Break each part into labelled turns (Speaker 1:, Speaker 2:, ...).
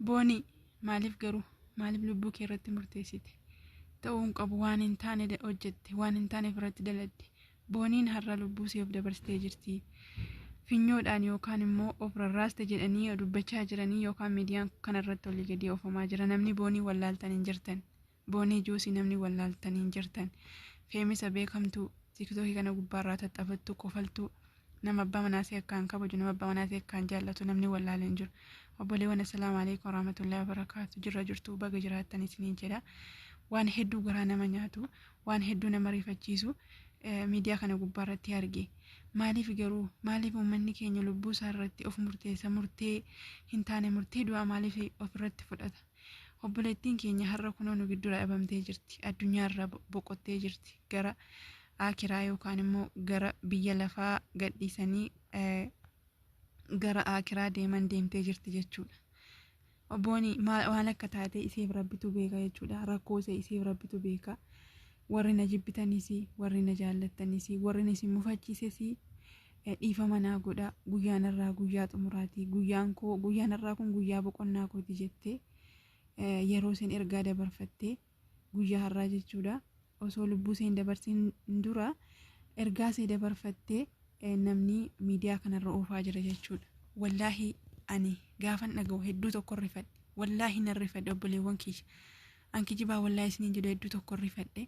Speaker 1: Boonii maaliif garuu maaliif lubbuu kee irratti murteessite ta'uu hin qabu waan hin taane da- hojjette waan hin taane irratti daladde booniin har'a lubbuu siif dabarsitee jirti finyoodhaan yookaan immoo of rarraaste jedhanii dubbachaa jiranii yookaan miidiyaan kanarratti olii gadii oofamaa jira namni boonii wallaaltan hin jirtan Boonii Juusii namni wallaaltan hin jirtan. Feemisa beekamtuu tiktookii kana gubbaarraa tattafattu kofaltuu nama abbaa manaasee akkaan kabaju nama abbaa manaasee akkaan jaallatu namni wallaale hin jiru. Obboleewwan assalaamu alaikum warahmatullahi wabarakaatu jirra jirtu baga jiraattan isiniin jedha. Waan hedduu garaa nama nyaatu waan hedduu nama rifachiisu miidiyaa kana gubbaarratti arge. Maaliif garuu maaliif uummanni keenya lubbuu isaa irratti of murteessa murtee hin taane murtee du'aa maaliif ofirratti fudhata? Obboleettiin keenya har'a kunoo nu giddura dhabamtee jirti. Addunyaa irraa bo- boqottee jirti. Gara aakiraa yookaan immoo gara biyya lafaa gadhiisanii eh, gara aakiraa deeman deemtee jirti jechuudha. Obbooni maal waan akka taate isiif rabbitu beeka jechuudha. Rakkoo ishee isiif rabbitu beeka. Warri na jibbitanis, warri na jaallattanis, warri na isin mufachiises Dhiifama naa godhaa, guyyaan har'aa guyyaa xumuraati. Guyyaan koo, guyyaan har'aa kun guyyaa boqonnaa kooti jettee yeroo isheen ergaa dabarfattee guyyaa har'aa jechuudha. Osoo lubbuu ishee hin dabarsin dura ergaa ishee dabarfattee namni miidiyaa kanarra oofaa jira jechuudha. Wallaahi ani gaafan dhaga'u hedduu tokko rifadhe. Wallaahi nan rifadhe obboleewwan kiyya. An kijibaa wallaahi isiniin jedhu hedduu tokko rifadhe.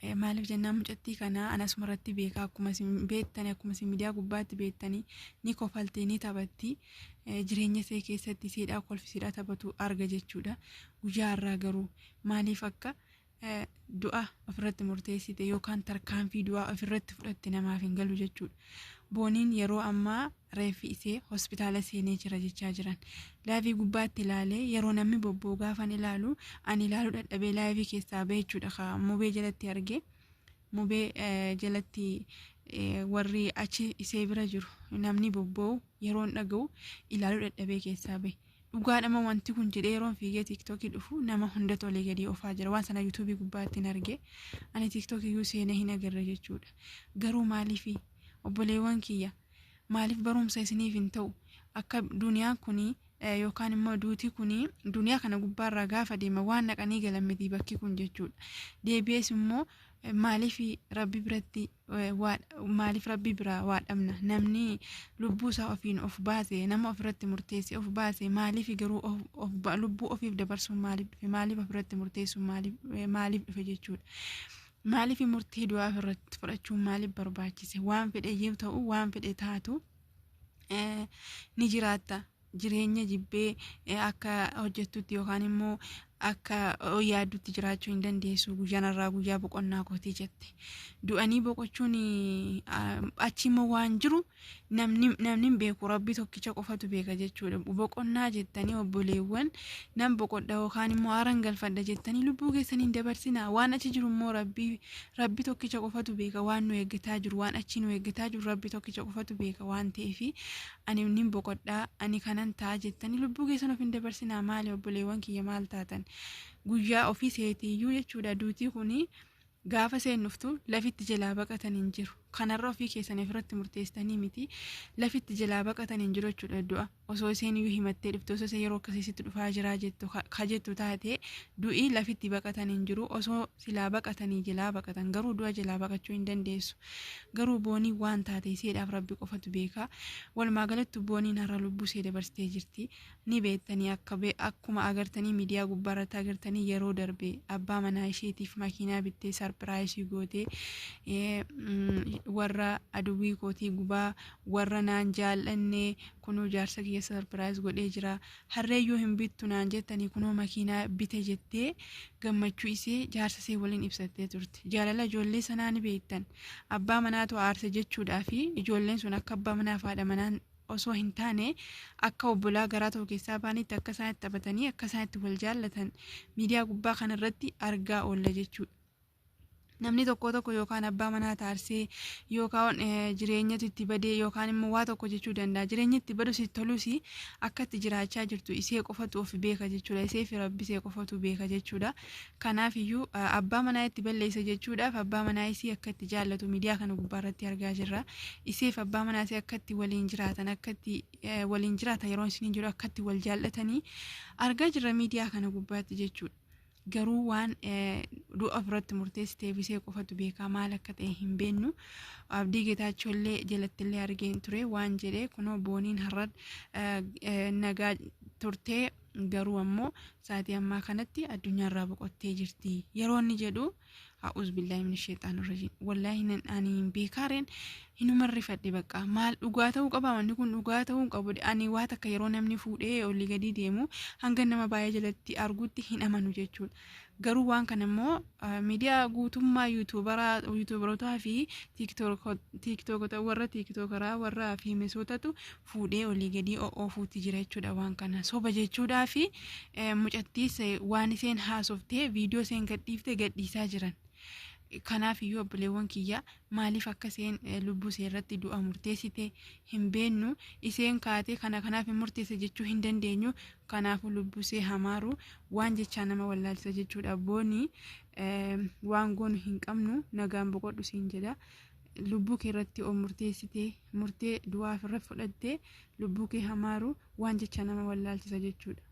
Speaker 1: Eh, Maaliif jennaan mucattii kana an asuma irratti beeka akkuma isin beektani akkuma isin miidiyaa gubbaatti beektani ni kofalti ni taphatti Eh, jireenya isee keessatti siidhaa kolfi siidhaa taphatu arga jechuudha. Guyyaa har'aa garuu maaliif akka eh, du'a ofirratti murteessite yookaan tarkaanfii du'aa ofirratti fudhatte namaaf hin galu jechuudha. Booniin yeroo ammaa reeffi isee hospitaala seenee jira jechaa jiran. Laayivii gubbaatti ilaalee yeroo namni bobboo gaafan ilaalu ani ilaaluu dadhabee laayivii keessaa ba'e jechuudha ka mubee jalatti arge. Mubee eh, jalatti eh, warri achi isee bira jiru namni bobboo yeroon dhaga'u ilaaluu dadhabee keessaa ba'e. Dhugaa dhama wanti kun jedhee yeroon fiigee tiiktookii dhufu nama hunda tolee gadii ofaa jira waan sana yuutuubii gubbaatti hin arge ani tiiktookii iyyuu seenee hin agarre jechuudha garuu maaliif obboleewwan kiyya maaliif barumsa isiniif hin ta'u akka duniyaan kun yookaan immoo duuti kun duniyaa kana gubbaarraa gaafa deema waan naqanii galan miti bakki kun jechuudha deebi'ees immoo maaliif rabbi biratti maaliif rabbi biraa waa dhabna namni lubbuu isaa ofiin of baase nama ofirratti murteessee of baase maaliif garuu lubbuu ofiif dabarsuun maaliif dhufe maaliif ofirratti murteessuun maaliif dhufe jechuudha. Maaliif murtee du'aa ofirratti fudhachuun maaliif barbaachise waan fedhe yoo ta'u waan fedhe taatu ni jiraatta jireenya jibbee eh, akka hojjettutti yookaan immoo akka oh, yaaddutti jiraachuu hin dandeessu guyyaan irraa guyyaa boqonnaa kooti jette du'anii boqochuun ah, achi immoo waan jiru namni namni hin beeku rabbi tokkicha qofatu beeka jechuudha boqonnaa jettanii obboleewwan nan boqodha yookaan immoo aaran galfadha jettanii lubbuu keessanii hin dabarsinaa waan achi jiru immoo rabbi rabbi tokkicha qofatu beeka waan nu eeggataa jiru waan achi nu eeggataa jiru rabbi tokkicha qofatu beeka waan ta'eefi ani nin boqodha ani kanan ta'a jettanii lubbuu keessan of hin dabarsinaa maali obboleewwan kiyya maal taatan guyyaa ofii seetiiyyuu jechuudha duutii kuni gaafa seennuftu lafitti jalaa baqatan hin jiru kanarra ofii keessan ofirratti murteessitanii miti lafitti jalaa baqatan hin jiru jechuudha du'a osoo isheen iyyuu himattee dhufte osoo isheen yeroo akkasiitti dhufaa jiraa jettu ka jettu taate du'i lafitti baqatan hin jiru osoo silaa baqatanii jelaa baqatan garuu du'a jelaa baqachuu hin dandeessu garuu boonii waan taate iseedhaaf rabbi qofatu beekaa walumaa galattu booniin har'a lubbuu isee dabarsitee jirti ni beektanii akka be- akkuma agartanii miidiyaa gubbaa irratti agartanii yeroo darbe abbaa manaa isheetiif makiinaa bittee sarpiraayisii gootee eh, mm, warra aduwwii kootii gubaa warra naan jaal'annee kunuu jaarsa kiyya sarpiraayis godhee jira Harree yoo hin bittu naan jettanii kunoo makiinaa bite jettee gammachuu isee jaarsa isee waliin ibsattee turte. Jaalala ijoollee sanaa ni beektan. Abbaa manaatu aarse jechuudhaa fi ijoolleen sun akka abbaa manaa fi haadha manaan osoo hin taane akka obbolaa garaa tokko keessaa baanitti akka isaan itti taphatanii akka isaan itti wal jaallatan miidiyaa gubbaa kanarratti argaa oolla jechuudha. namni tokko tokko yookaan abbaa manaa taarsee yookaan jireenyatu itti badee yookaan immoo waa tokko jechuu danda'a jireenyi itti badus itti tolus akka itti jiraachaa jirtu isee qofatu of beeka jechuudha isee fi rabbi isee qofatu beeka jechuudha kanaaf iyyuu abbaa manaa itti balleessa jechuudhaaf abbaa manaa isii akka itti jaallatu miidiyaa kana gubbaa irratti argaa jirra iseef abbaa manaa isee akka itti waliin jiraatan akka itti waliin jiraatan yeroo isin jiru akka itti wal jaallatanii argaa jirra miidiyaa kana gubbaatti jechuudha. garuu waan du'a irratti murteessiteef isee qofatu beekaa maal akka ta'e hin beennu abdii getaachollee jalattillee argeen ture waan jedhe kunoo booniin har'a nagaa turtee garuu ammoo sa'aatii ammaa kanatti addunyaarraa boqottee jirti yeroo inni jedhu A'uuz billaahi min sheexaan irrajiim. Wallaahi nan ani hin beekaareen hinuma rifadhe bakka maal dhugaa ta'uu qaba wanni kun dhugaa ta'uu hin qabu ani waa takka yeroo namni fuudhee olii gadii deemu hanga nama baay'ee jalatti arguutti hin amanu jechuudha. Garuu waan kana immoo ah, miidiyaa guutummaa yuutuubaraa yuutuubarootaa fi tiiktookotaa warra tiiktookaraa warra fiimesootatu fuudhee olii gadii o'oofuutti jira jechuudha waan kana soba jechuudhaa fi mucattiis waan isheen haasoftee viidiyoo isheen gadhiifte gadhiisaa jiran. Kanaaf iyyuu obboleewwan kiyya maaliif akka isheen lubbuu ishee irratti du'a murteessite hin beennu isheen kaatee kana kanaaf hin murteesse jechuu hin dandeenyu kanaafuu lubbuu ishee hamaaru waan jechaa nama wallaalchisa jechuudha boonii waan goonu hin qabnu nagaan boqodhu siin jedha lubbuu kee irratti of murteessite murtee du'aa ofirra fudhattee lubbuu kee hamaaru waan jecha nama wallaalchisa jechuudha.